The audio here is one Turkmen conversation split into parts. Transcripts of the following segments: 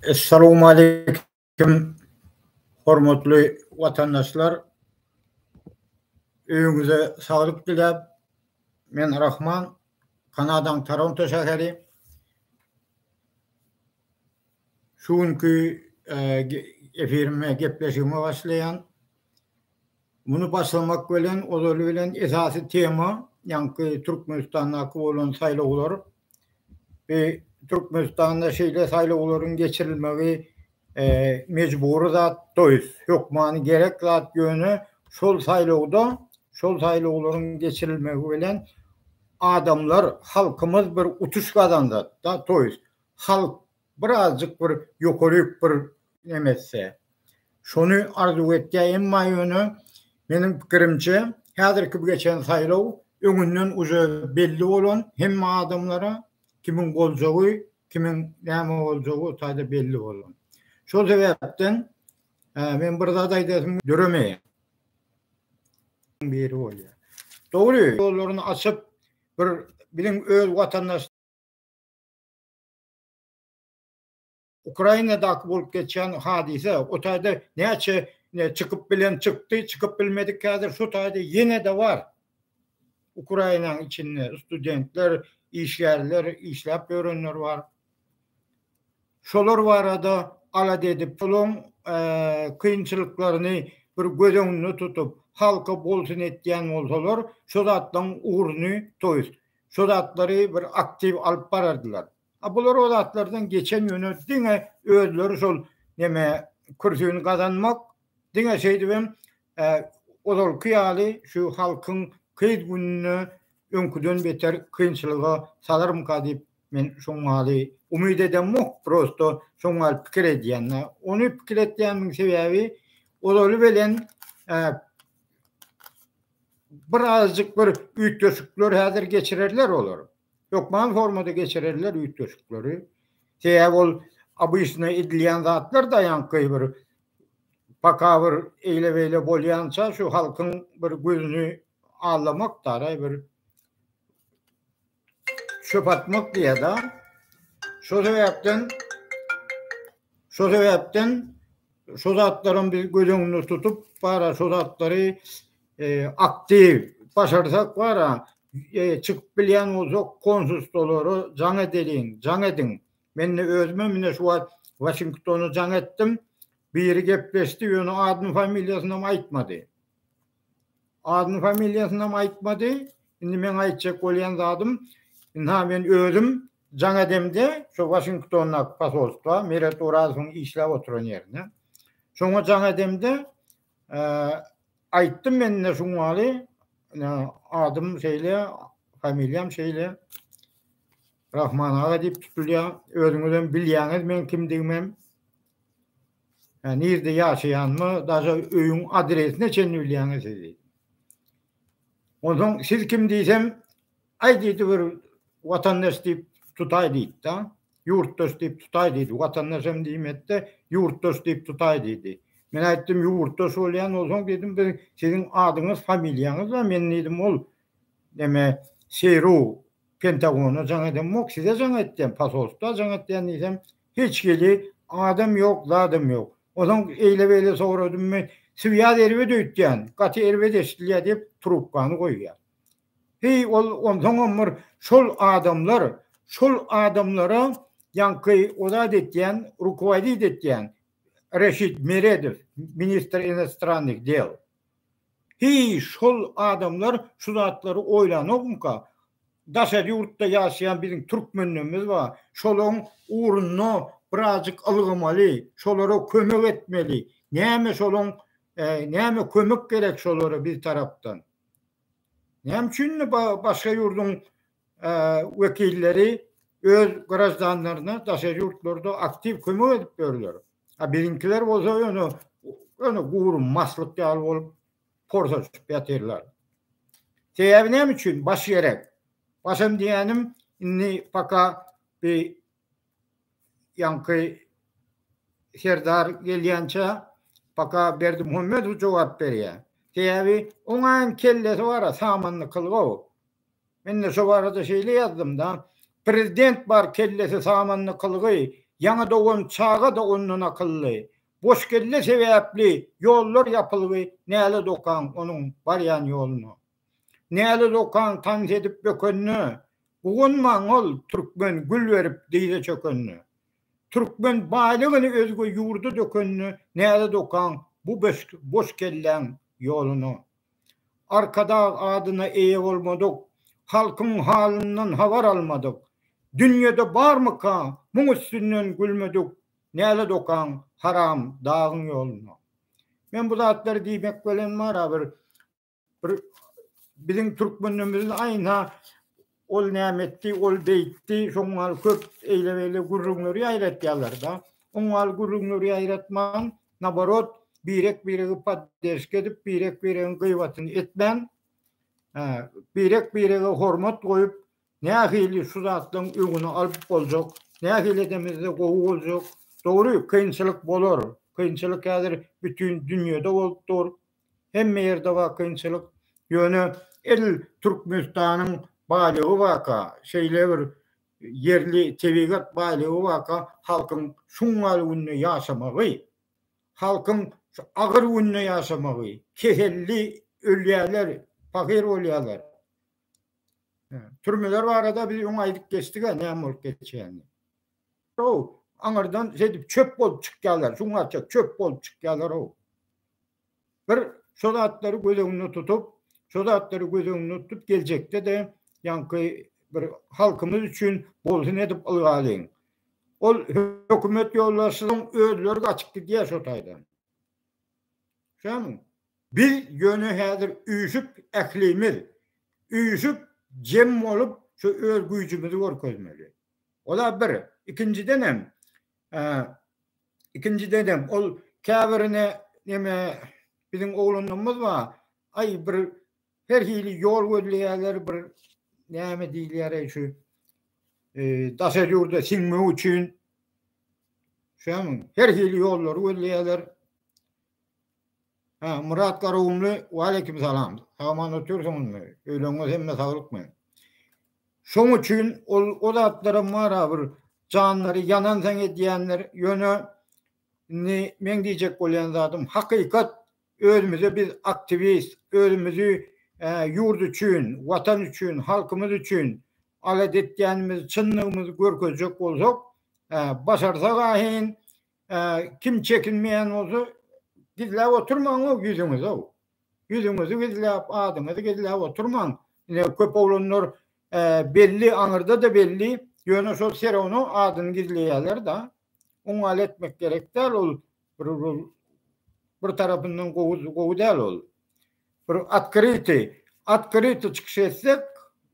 Essalowmaleýkim, hormatly watandaşlar! Öýüňize saglyk diläp, men Rahman, Kanadaň Toronto şäheri. Şu günki efirime, gepleşigime başlaýan. Muny başlamak bilen, ozaly bilen esasy tema, ýaňky Türkmenistandaky bolan saýlawlar, Bi Türkmenistanda şeýle saýlawlaryň geçirilmegi mejbury zat doýs, hökmany gerek zat ýöne şol saýlawda, şol saýlawlaryň geçirilmegi bilen adamlar, halkymyz bir utuş gazanzat-da doýs. Halk Bir azjyk bir ýokaryk bir neme etse. Şony arzuw etýä, emma ýöne meniň pikirimçe häzirki bu geçen saýlaw öňünden uje belli bolan hemme adamlara kimiň boljagy, kimiň näme boljagy taýda belli bolan. Şol sebäpden men bir zat aýdasym döremeýär. Biri bolýar. Dogry, ýollaryny açyp bir biziň öz watandaş Ukrainadaky bolup geçýän hadysa, o taýda näçe çykyp bilen çykdy, çykyp bilmedik häzir şu taýda ýene-de bar. Ukrainanyň içinde studentler, işgärler, işläp ýörenler bar. Şolar barada alada edip, şolaryň kynçylyklaryny bir göz öňünde tutup, halka bolsun etýän bolsalar, şo zatlaryň ugruny toýsun. şo zatlary bir aktiw alyp barardylar. A bular o zatlardan geçen ýöne diňe özleri şol neme kürsini gazanmak, diňe şeýdibem ozalky ýaly şu halkyň gyz gününe öňküden beter kynçylyga salarmyka diýip men şoň maly umyt edemok, prosto şoň maly pikir edýän. Ony pikir etýänmiň sebäbi ozaly bilen Bir azjyk bir üýtgeşikler häzir geçirerler olar. Hökman formada geçirerler üýtgeşikleri. Sebäbi ol abyşna edilýän zatlar da ýaňky bir paka bir eýle beýle bolýança şu halkyň bir gözüni allamak da bir çöp atmak diýýärdi. Şo sebäpden şo sebäpden şo zatlaram biz göz öňünde tutup bara şo zatlary e, aktiw başarsak bara e, çykyp bilýän bolsak konsulstolary jaň edeliň, jaň ediň. Men de özüme mine şu wagt Washingtona jaň etdim. Biri gepleşdi, ýöne adyny familiýasyny hem aýtmady. Adyny familiýasynam aýtmady. Indi meň aýtjak bolýan zadym, ynha men özüm jaň edemde şu Waşingtondaky posolstwa, Meret Orazowyň işläp oturan ýerine. Şoňa jaň edemde aýtdym men indi şu maly adym şeýle, familiýam şeýle. Rahman aga diýip tutulýar. Özüňizem bilýäňiz meň kimdigimem. Hä, nirde ýaşaýanymy, daşa öýüň adresine çenli bilýäňiz siz diýdi. Onsoň siz kim diýsem, aý diýdi bir watandaş diýip tutaý diýdi-da. Ýurtdaş diýip tutaý diýdi. Watandaş hem diýmedi-de, ýurtdaş diýip tutaý diýdi. Men aýtdym, ýurtdaş bolýan bolsaň diýdim, biz siziň adyňyz, familiýaňyz bar. Men diýdim, ol neme, Seýru Pentagona jaň edem ok size jaň etdem pasolstwa jaň etdem diýsem hiç hili adam ýok zadam ýok ozaň eýle beýle soradymmy swýaz erbet öýtýän gaty erbet eşdilýär diýip trubkany goýýar heý ol onsoňam bir şol adamlar şol adamlara ýaňky o zat etýän rukowadit etýän reşit meredow ministr inostrannykh del. Heý, şol adamlar şu zatlary oýlanokmyka? Daşary ýurtda ýaşaýan biziň türkmenlerimiz bar. Şolaryň ugrunda birazjyk ylgamaly, şolara kömek etmeli. Näme şolaryň näme kömek gerek şolara biz tarapdan? Näme üçin indi başga ýurduň wekilleri öz graždanlaryna daşary ýurtlarda aktiw kömek edip ýörler. A biziňkiler bolsa ýöne ýöne gury maslyk ýaly bolup porsaşyp ýatyrlar. Sebäbi näme üçin? Baş gerek. Başam diýýänim indi paka bi ýaňky serdar gelýänçä paka Berdimuhamedow jogap berýär. Sebäbi oňaýam kellesi bar-a, samanlykyl gowy. Men-de şo barada şeýle ýazdym-da, Prezident bar kellesi samanly kylgy, ýaňy dogan çaga-da ondan akylly. Boş kelle sebäpli ýollar ýapylgy, nälet okaň onuň barýan ýoluna. Nälet okaň tans edip bökende, guwanmaň ol türkmen gül berip dyza çökende. Türkmen baýlygyny özge ýurda dökende, nälet okaň bu boş kelläň ýoluna. Arkadag adyna eýe bolmadyk, halkyň halyndan habar almadyk. Dünýede barmyka muň üstünden gülmedik, nälet okaň haram dagyň ýoluna. Men bu zatlary diýmek bilen mara bir bir biziň türkmenimiziň aýna Ol näme etdi, ol beýtdi, şoň maly köp eýle-beýle gürrüňleri ýaýratýarlar-da. Oň maly gürrüňleri ýaýratman, naborot, birek-biregi podderşka edip, birek-biregiň gyýbatyny etmän, birek-birege hormat goýup, nähili şu zatlaryň öňüni alyp boljak, nähili edemizde gowy boljak? Dogry, kynçylyk bolar. Kynçylyk häzir bütin dünýede bolup dur. Hemme ýerde bar kynçylyk. Ýöne edil Türkmenistanyň baýlygy barka, şeýle bir ýerli tebigat baýlygy barka, halkyň şungal günde ýaşamagy, halkyň şu agyr günde ýaşamagy, keselli ölýärler, pahyr bolýarlar. Türmeler barada biz öň aýdyp geçdik-ä näme bolup geçýänini. Ow, aňyrdan zedip çöp bolup çykýarlar, şuňaça çöp bolup çykýarlar ow. Bir şo zatlary göz öňünde tutup, şo zatlary göz öňünde tutup geljekde de ýaňky bir halkymyz üçin bolsun edip ylgalyň. Ol hökümet ýolbaşçylaryň özleri gaçyp gidýär şo taýdan. Şämi? Biz ýöne häzir üýşüp ählimiz, üýşüp jem bolup şu öz güýjümizi görkezmeli. Ola bir. Ikinjidenem, ikinjidenem ol käbirine neme biziň oglanlarymyz bar, aý bir her hili ýol gözleýärler, bir näme diýilýär-eý şu daşary ýurda siňmek üçin. Şämiň? Her hili ýollary gözleýärler. Hä, Myrat Garagumly, waleýkim salam. Sag-aman otursyňyzmy? Öýleriňiz hemme saglykmy? Şoň üçin ol o zatlaram bar-a bir janlary ýanansaň edýänler, ýöne indi meň diýjek bolýan zadym hakykat özümize biz aktiwist, özümizi ýurt üçin, watan üçin, halkymyz üçin alat etýänimizi, çyndygymyzy görkezjek bolsak, başarsak ahyn, Kim çekinmeýän bolsa, gizläp oturmaň-ow ýüzüňizi-ow. Ýüzüňizi gizläp, adyňyzy gizläp oturmaň. Ine, köp oglanlar belli, aňyrda-da belli, ýöne şol serowno adyny gizleýärler-de. Oň ýaly etmek gerek däl ol. Bir tarapyndan gowy däl ol. Bir otkryty, otkryty çykyş etsek,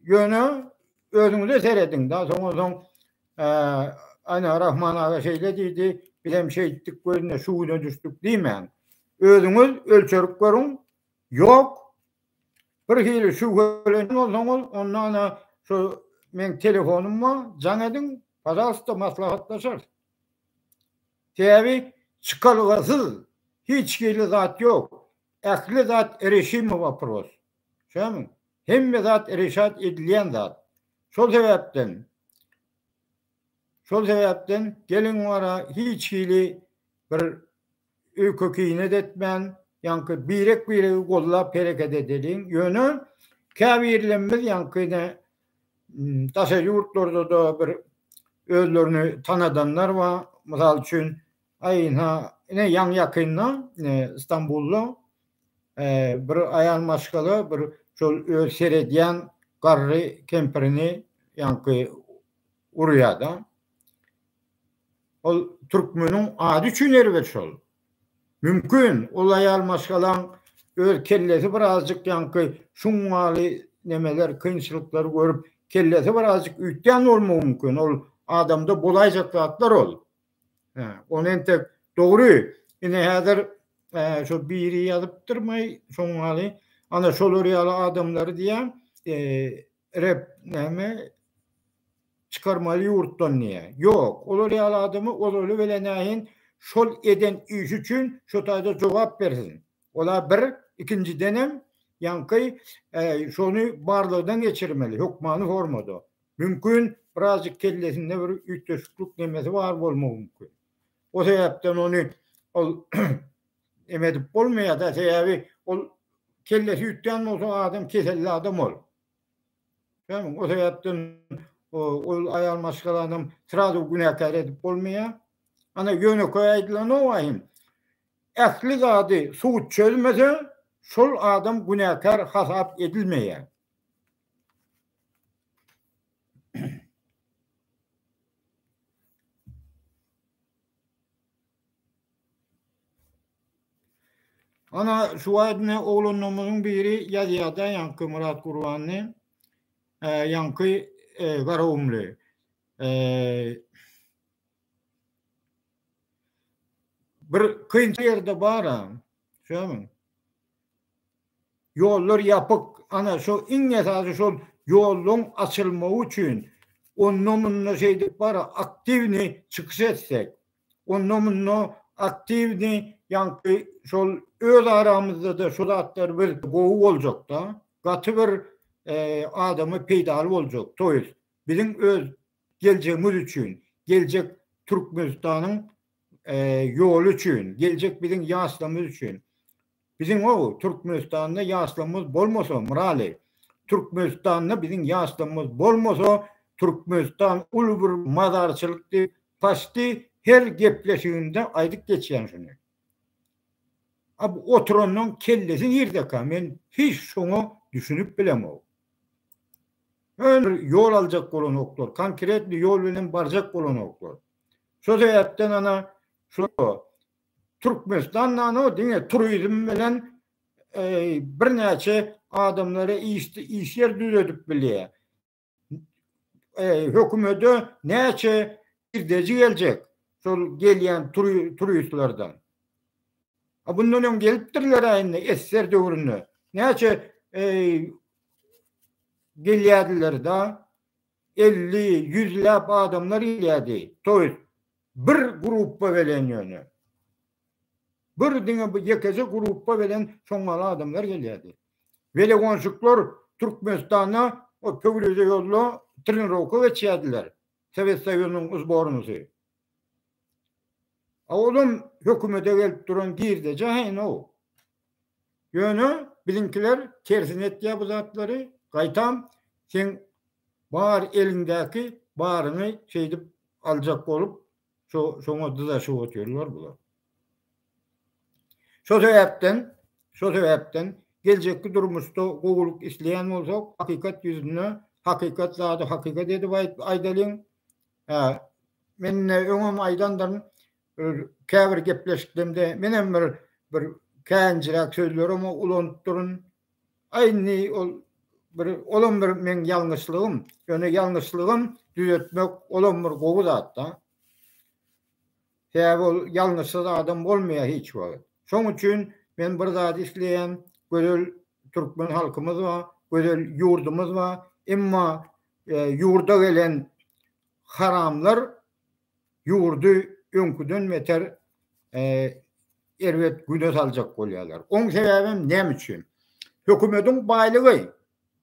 ýöne özüňize serediň da, soňa soň Ana Rahman aga şeýle diýdi, bizem şeýtdik we indi şu güne düşdük diýmäň. Özüňiz ölçerip görüň. Ýok. Bir hili şübhelenen bolsaňyz, onda ana şu meň telefonym bar, jaň ediň, pazalsta maslahatlaşarys. Sebäbi çykalgasyz hiç hili zat ýok. Ähli zat reşime waproz. Şämi? Hemme zat reşat edilýän zat. Şol sebäpden Şol sebäpden gelin wara hiç hili bir öýke-kiýnet etmän, ýaňky birek-biregi gollap hereket edeliň. Ýöne käbirlerimiz ýaňky ine daşary ýurtlarda-da bir özlerini tanadanlar bar. Mysal üçin, Aý, ynha, ine, ýaňy-ýakynda Stambulda bir aýal maşgala bir şol öz seredýän garry kempirini ýaňky urýar-da. Ol türkmeniň ady üçin erbet şol. Mümkin, ol aýal maşgalaň öz kellesi birazjyk ýaňky şuňňaly nemeler, kynçylyklary görüp, kellesi birazjyk üýtgän bolmagy mümkin. Ol adamda bolaýjak zatlar ol. Ol entek dogry. Ine häzir şo biri ýazypdyr maý şoňňaly ana şolar ýaly adamlary diýýän rep näme çykarmaly ýurtdan diýýä. Ýok, olar ýaly adamy ozaly bile näin şol eden işi üçin şo taýda jogap bersin. Ola bir, ikinjidenem, ýaňky şony barlagdan geçirmeli, hökmany formada. Mümkin, birazjyk kellesinde bir üýtgeşiklik nemesi bar bolmagy mümkin. O sebäpden ony ol eme edip bolmaýar-da, sebäbi ol kellesi üýtgän bolsa, adam keselli adam ol. Ýagny, o sebäpden ol aýal maşgalanam srazu günäkär edip bolmaýar. Ana, ýönekeý aýdylany owaýyn, Ähli zady sud çözmese, şol adam günäkär hasap edilmeýär. Ana, şu wagt ine oglanlarymyzyň biri ýazýar-da ýaňky Myrat Gurbanly, ýaňky Garagumly. Bir kynçy ýerde bar-a, şämiň? Ýollar ýapyk. Ana, şo iň esasy şol ýollaryň açylmagy üçin onda-munda şeýdip bar-a, aktiwny çykyş etsek, onda-munda aktiwny, ýaňky şol öz aramyzda-da şu zatlar bir gowy boljak-da, gaty bir adama peýdaly boljak, to ýest, biziň öz geljegimiz üçin, geljek Türkmenistanyň ýoly üçin, geljek biziň ýaşlarymyz üçin. Biziň-ow Türkmenistanda ýaşlarymyz bolmasa, Myraly, Türkmenistanda biziň ýaşlarymyz bolmasa, Türkmenistan uly bir mazarçylyk diýip, Paşty her gepleşiginde aýdyp geçýän şuny. A bu oturanyň kellesi nirdeka men hiç şoňa düşünip bilemok. Öňe ýol aljak bolanoklar, konkretny ýol bilen barjak bolanoklar. Şo sebäpden ana şu Türkmenistan nano diňe turizm bilen birnäçe adamlara iş ýer düzedip bilýär. e, hökümete näçe girdeji geljek şol gelýän turistlerden. A bundan öň gelipdirler aýynda esser döwründe. Näçe e, gelýärdiler da 50 100 läp adamlar gelýärdi. Toýut bir gruppa gelen ýöne. Bir diňe bu ýekeje grupba welin soňňala adamlar gelýärdi. Welegonşikler Türkmenistanda o pöwrize ýolda trenirowka geçýärdiler, Sowet Soýuzynyň uzbornysy. A olam hökümete gelip duran girdeje haýynow. Ýöne biziňkiler tersine etýär bu zatlary, gaýtam seň bar eliňdäki baryňy şeýdip aljak bolup Şo şoňa dyzaşyp otyrlar bular. Şo sebäpden, şo sebäpden geljekki durmuşda gowulyk isleýän bolsak, hakykat ýüzünde hakykat zady hakykat edip aýdalyň. Hä, men ne öňem aýdandyryn, käbir gepleşiklerimde menem bir bir käýinjiräk sözlerimi ulanyp durun. Aýndy ol bir olam bir meň ýalňyşlygym. Ýöne ýalňyşlygym düzetmek olam bir gowy zat-da. Sebäbi ol ýalňyşsyz adam bolmaýar hiç wagt. Şoň üçin men bir zat isleýän, gözel türkmen halkymyz bar, gözel ýurdumyz bar. Emma ýurda gelen haramlar ýurdy öňküden beter erbet güne saljak bolýarlar. Oň sebäbem näme üçin? Hökümetiň baýlygy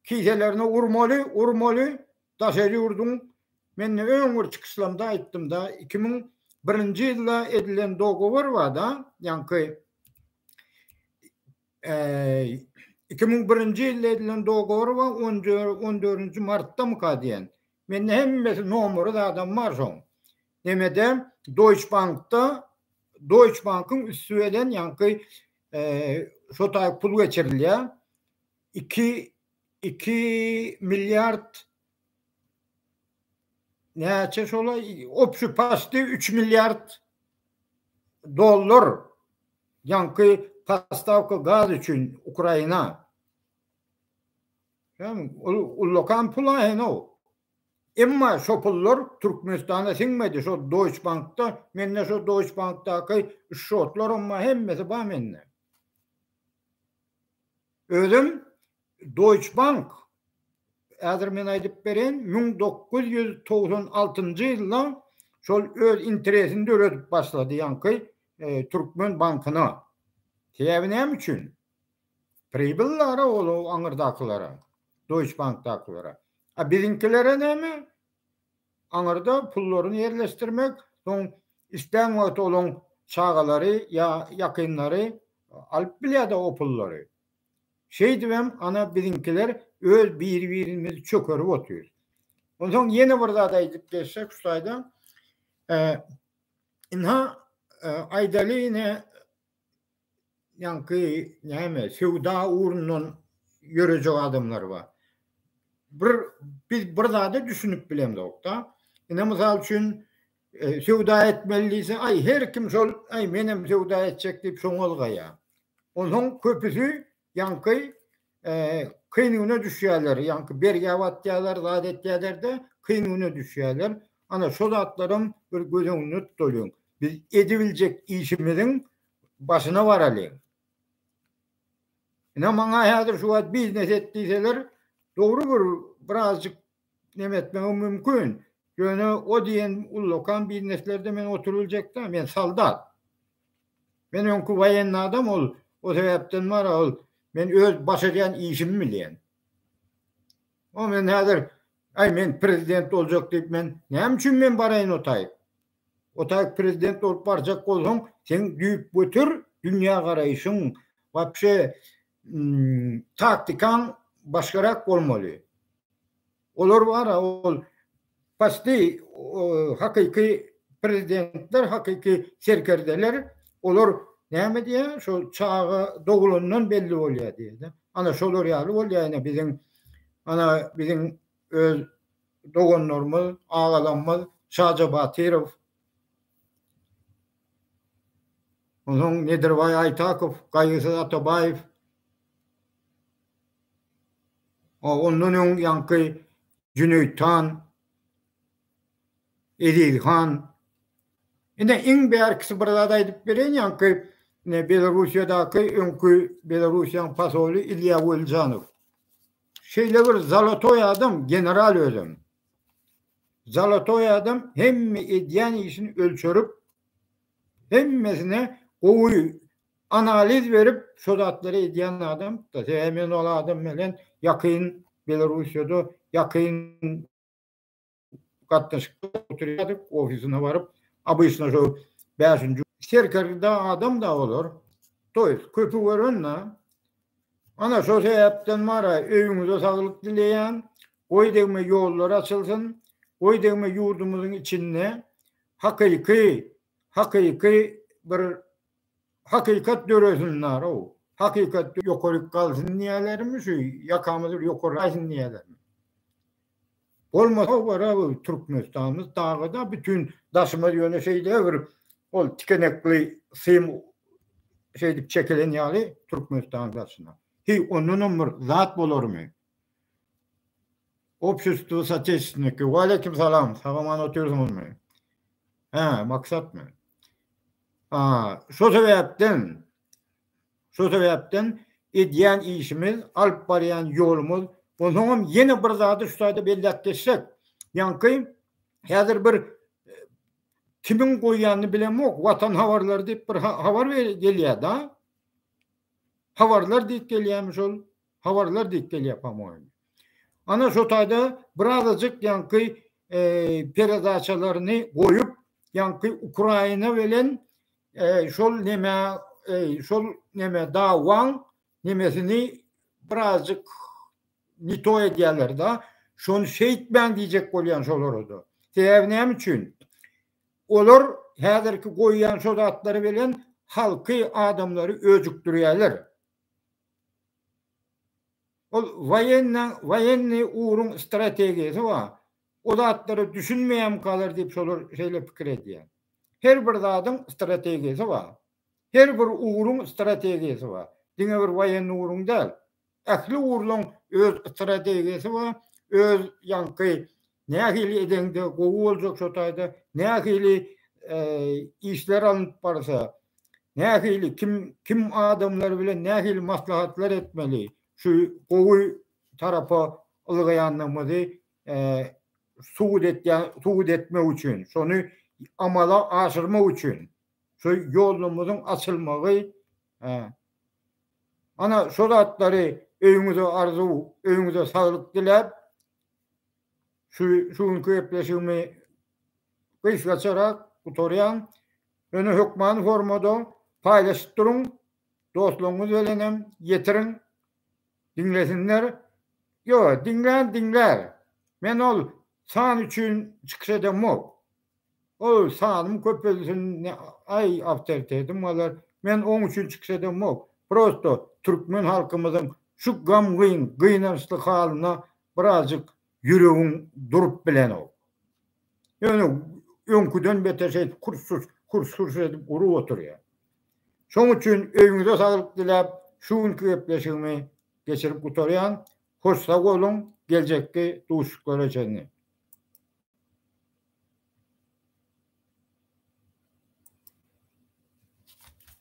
kiselerine urmaly, urmaly, daş el ýurduň men öň bir çykyşlamda aýtdymda, iki müň birinji ýylda edilen dogowar barda, ýaňky iki müň birinji ýylda edilen dogowar bar, on dördünji martdamyka diýen, Mende hemmesi nomary zadam bar şoň. Nemede Deutsche Bankda Deutsche Bankyň üsti bilen ýaňky şo taýy pul geçirilýär. 2 2 milliard näçe şola opşy pasty 3 milliard dollar ýaňky pastavka gaz üçin Ukraina. Ýagny ol ullakan pul aýna ol. Emma şo pullar Türkmenistana siňmedi. Şo Deutsche Bankda, mende şo Deutsche Bankdaky şotlaram bar, hemmesi bar mende. Özüm Deutsche Bank häzir men aýdyp bereýin, müň dokuz ýüz togsan altynjy ýylda şol öz interesini döredip başlady ýaňky e, Türkmen bankyna. Sebäbi näme üçin? Pribyllary olaw aňyrdakylara, Deutsche Bankdakylara. A biziňkilere näme? Aňyrda pullaryny ýerleşdirmek, soň islän wagty olaň çagalary ýa ýakynlary alyp bilýär-de o pullary. Şeýdibem, ana, biziňkiler öz biri-birimizi çökerip otyrys. Onsoň ýene bir zat aýdyp geçsek şu taýdan, ynha, aýdaly ine, ýaňky näme söwda ugrundan ýörejek adamlar bar. Bir biz bir zada düşünip bilemzokda. Ine mysal üçin e, söwda etmeli diýse, aý her kim şol, aý men hem söwda etjek diýip şoňa ylgaýar. Onuň köpüsi Ýaňky kyn güne düşýärler, ýaňky bergä batýarlar, zat etýärler-de, kyn güne düşýärler. Ana, şo zatlaram bir göz öňünde tutalyň. Biz edibiljek işimiziň başyna baralyň. Ine, maňa häzir şu wagt biznes et diýseler, dogry bir birazjyk neme etmegim mümkin. Ýöne o diýen ullakan bizneslerde men oturyljak däl, men soldat. Men öňki woýenny adam ol, o sebäpden bara ol men öz baş edýän işimi bilýän. O men häzir Aý men prezident boljak diýip men näme üçin men baraýyn otaý? Otaý prezident bolup barjak bolsaň, seň düýpgöter dünýä garaýşyň, wapşe taktikaň başgarak bolmaly. Olar bara ol pasti hakyky prezidentler, hakyky serkerdeler, olar näme diýä, şo çaga doglandan belli bolýar diýdi. Ana şolar ýaly bolýar, ýa biziň ana biziň öz doganlarymyz, agalarymyz Şaja Batyrow Onsoň Nedirbaý Aýtakow, Gaýgysyz Atabaýew, a ondan öň ýaňky Jüneýit han, Eziz han. Ine iň bärkisi bir zat aýdyp bereýin ýaňky Belarussiýadaky öňki Belarussiýanyň posoly Ilýa Welžanow. Şeýle bir zalotoý adam general özem. Zalotoý adam hemme edýän işini ölçerip, hemmesine gowy analiz berip, şo zatlary edýän adam. Sebäbi men ol adam bilen ýakyn Belarussiýada ýakyn gatnaşykda oturýardyk, ofisyna baryp, obyçna şo bäşinji Serkerda adam-da olar. Toýs köpi gören-de, Ana şol sebäpden bara öýüňize saglyk dileýän, goý degme ýollar açylsyn, goý degme ýurdumyzyň içinde hakyky, hakyky bir hakykat döresin narow, hakykat ýokaryk galsyn diýälermi şu ýakamyz bir ýokaryk aýsyn diýälermi. Bolmasa wara Türkmenistanymyz dagada bütin daşymyz ýöne şeýle bir ol tikenekli sym şeýdip çekilen ýaly Türkmenistanyň daşyna. Heý ondanam bir zat bolarmy? Obşestwo soteçniki. Waleýkim salam. Sagaman otyrsyňyzmy? Hä, maksatmy? A, şo sebäpden Şo sebäpden edýän işimiz, alyp barýan ýolumyz, onsoňam ýene bir zady şu taýda belläp geçsek, ýaňky häzir bir kimiň goýýanyny bilemok, Watan habarlary diýip bir habar gelýär-de. Habarlar diýip gelýärmi şol? Habarlar diýip gelýär, pamoýin. Ana şo taýda birazajyk ýaňky peredaçalaryny goýup, Ýaňky Ukraina bilen e, şol neme e, şol neme dawaň nemesini birazjyk nito edýärler da. Şony şeýtmäň diýjek bolýan şolara da. Sebäbi näme üçin? Olar häzirki goýýan şo zatlary bilen halky adamlary öjükdirýärler. Ol waýenniň waýenni uruň strategiýasy bar. O zatlara düşünmeýäm galar diýip şolar şeýle pikir edýär. Her bir zadyň strategiýasy bar. Her bir ugruň strategiýasy bar. Diňe bir waýenni ugruň däl. Ähli ugurlaň öz strategiýasy bar, öz ýaňky nähili edeňde gowy boljak şo taýda nähili işler alnyp barsa, nähili kim kim adamlar bilen nähili maslahatlar etmeli, şu gowy tarapa ylgaýandygymyzy subut etýän, subut etmek üçin, şony amala aşyrmak üçin şu ýolumyzyň açylmagy, ana şo zatlary öýüňize arzuw, öýüňize saglyk diläp, şu şu günki gepleşigimi gysgaçarak gutarýan. Ýöne hökmany formada paýlaşyp duruň, dostlaryňyz bilenem ýetiriň. Diňlesinler? Ýo, diňlän diňlär. Men ol san üçin çykyş edemok. Ol sanym köpelsin, aý awtoritetim galar. Men oň üçin çykyş edemok. Prosto türkmen halkymyzyň şu gam-gyn, gynançly halyna birazjyk Ýüregiň durup bilenok. Ýöne öňküden beter şeýdip hurs-hurs, hurs-hurs edip urup oturýar. Şoň üçin öýüňize saglyk diläp, şu günki gepleşigimi geçirip gutarýan. Hoş sag boluň, geljekki duşuşyklara çenli.